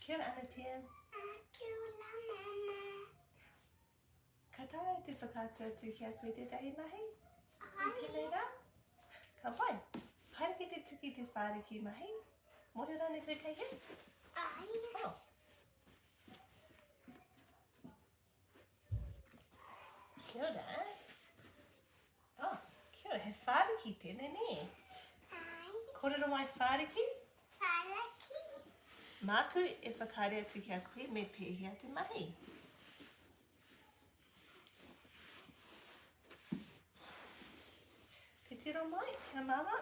Kia ora Ana Tia. Kia ora Mama. Ka taea te whakaatu atu ki a koe tētahi mahi? Hai. Ki tēnei rā? Ka pai. Haere ki te tuki te whāriki mahi. Mōhio rānei koe kei he? Hai. Oh. Kia ora. Oh, kia ora, he whāriki tēnei, nē? Ai. Kōrero mai whāriki? Whāriki. Māku e whakaare atu ki a koe me pēhea te mahi. Te tiro mai, kia māma.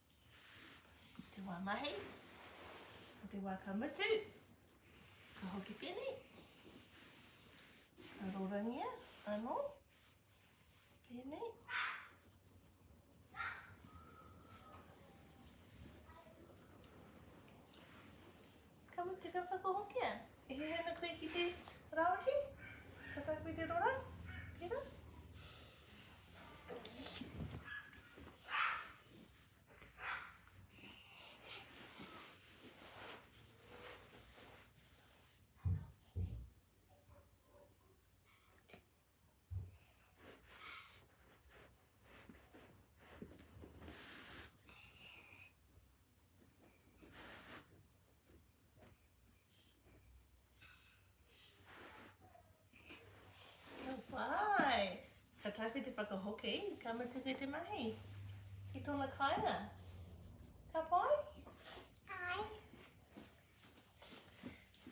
I te wā mahi, i te wā ka mutu, ka hoki tēnei, ka rorangia anō, tēnei. Ka mutu ka whakahokia. E hiahia ana koe ki te rāwhiti? Ka tae koe te rora? Pera? Tawhiti te whakahoki, ka matuku te mahi. Ki tōna kāinga. Ka pai? Ai.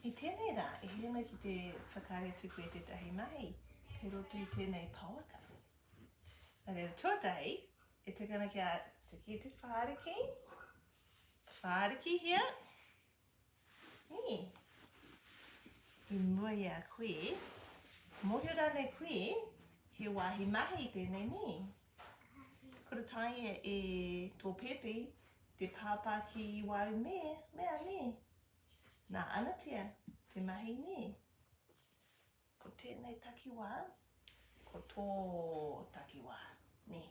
I tēnei rā, e hē ana ki te whakaari atu koe i tētahi mahi kei roto i tēnei pouaka. Nā reira, tuatahi, e tika ana kia tiki i te whāriki, whāriki hea, i, i mua i a koe, mōhio rānei koe, he wāhi mahi tēnei nē, Kua taea e tō pēpi te pāpā ki wāu me, mea nē? Nā Anatea te mahi nē? Ko tēnei takiwā, ko tō takiwā nē?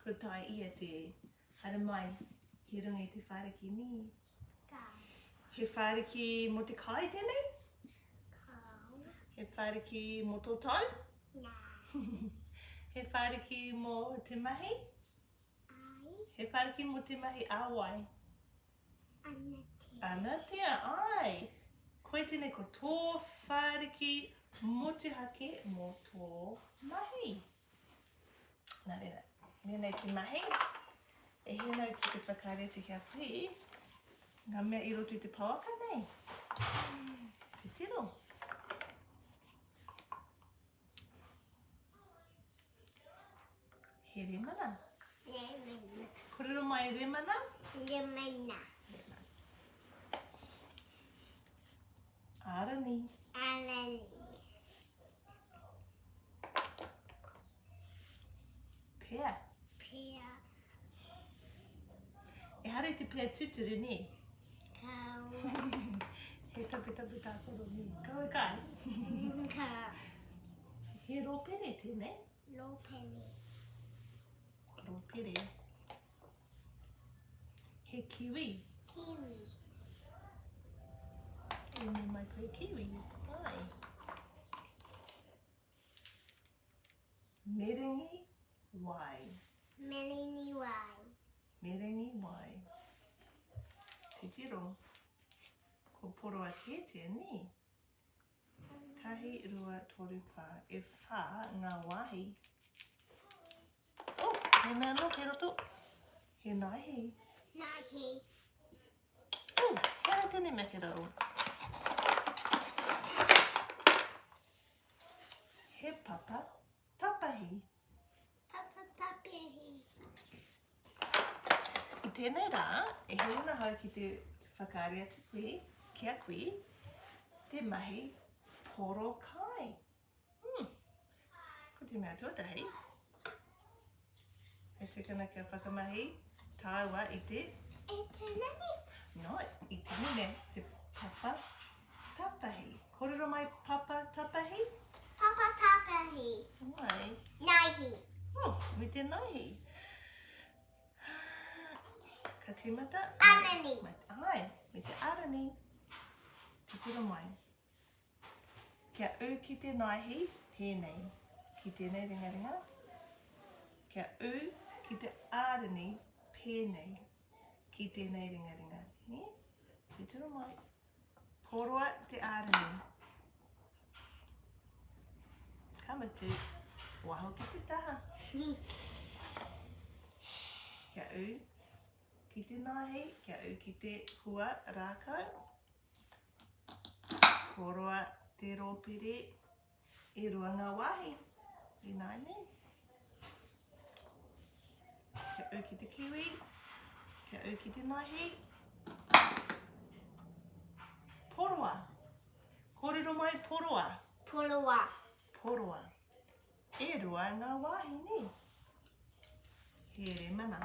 Kua taea te Haere mai, ki runga i te whāriki nī. Kāo. He whāriki mō te kāi tēnei? Kāo. He whāriki mō tō tau? Nā. He whāriki mō te mahi? Āe. He whāriki mō te mahi ā wai? Anatea. Anatea, āe. Koe tēnei ko tō whāriki motuhake mō tō mahi. Nā reira, mēnei te mahi, e hē ana au ki te whakarite kia pī ngā mea i roto i te pouaka nei. Te tiro. He remana. Remana. Korero mai remana. Remana. Arani. Arani. Pea. Pea. E hare te pea tuturu, ne? Kaua. He tapu tapu tākoro ni. Kaua e kai? Ka. He rōpere tēnei? Rōpere. Rōpere. He kiwi. Kiwi. E me mai koe kiwi. Hai. Merengi wai. Merengi wai. Merengi wai. Titiro. Ko poroa kētia, nī? Tahi, rua, toru, wha, e wha nga wahi. Oh, he mea no kei roto. He naihi. Naihi. Oh, he aha tēnei mea kei raro? He papa. Tatahi. Papa Tapehi. I tēnei rā, e huri ana hau ki te whakaari atu koe, ki a koe, te mahi poro kai. Ko te mea tuatahi. E tukuna kia whakamahi tāua i te. E tūnene. No, i tūnene te papa tapahi. Kōrero mai papa tapahi. Papa tapahi. Mai. Naihi. Oh, me te naihi. Ka tīmata. Arani. Ai, me te arani. Te kura mai. Kia ū ki te naihi, tēnei, ki tēnei ringaringa. Kia ū ki te ārini, pēnei, ki tēnei ringaringa. Nē? Te tiro mai. Poroa te ārini. Ka mutu, waho ki te taha. Kia ū ki te naihi, kia ū ki te hua rākau. Ko roa te rōpiri i roa ngā wāhi. Ināianei. Kia ū ki te kiwi, kia ū ki te naihi. Poroa. Kōrero mai, poroa. Poroa. Poroa. E rua ngā wāhine. He remana.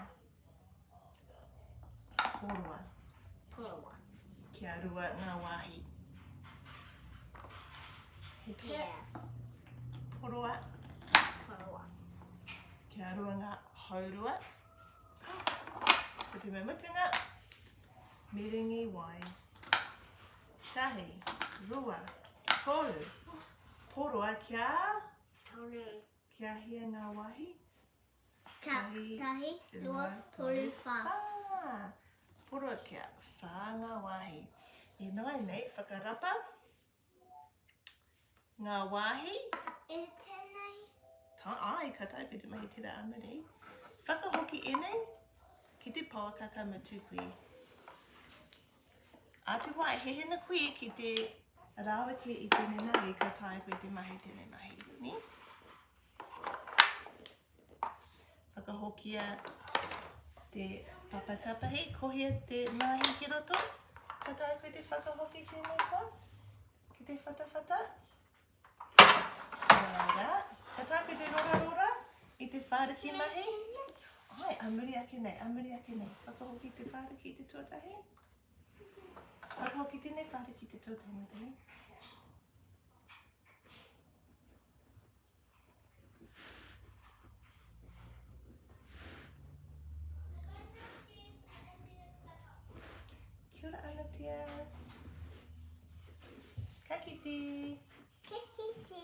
Koroa. Koroa. Kia rua ngā wāhi. He pea. Koroa. Koroa. Kia rua ngā haurua. Ko te memutunga. Merengi wai. Tahi, rua, toru, poroa kia. Toru. Kia hia nga wahi? Tahi, tahi rua, toru, wha. Wha. Poroa kia wha nga wahi. Inainei, whakarapa. Ngā wāhi. E tēnei. Ta, ai, ka tae koe te mahi te rā muri. Whakahoki ēnei ki te pouakaka mutu kui. A te wai, he hena kui ki te rāwe ki i tēnei mahi, ka tae koe te mahi tēnei mahi. Ni? Whakahokia te papatapahi, kohia te mahi ki roto. Ka tae koe te whakahoki tēnei koe. Ki te whatawhata. Nā rā. Ka tāku te rorarora i te whāriki mahi. Ai, a muri ake nei, a muri ake nei. Whakahoki te whāriki i te tuatahi. Whakahoki tēnei whāriki i te tuatahi, me te nei. Kia ora Aratia. Ka kite. Ka kite.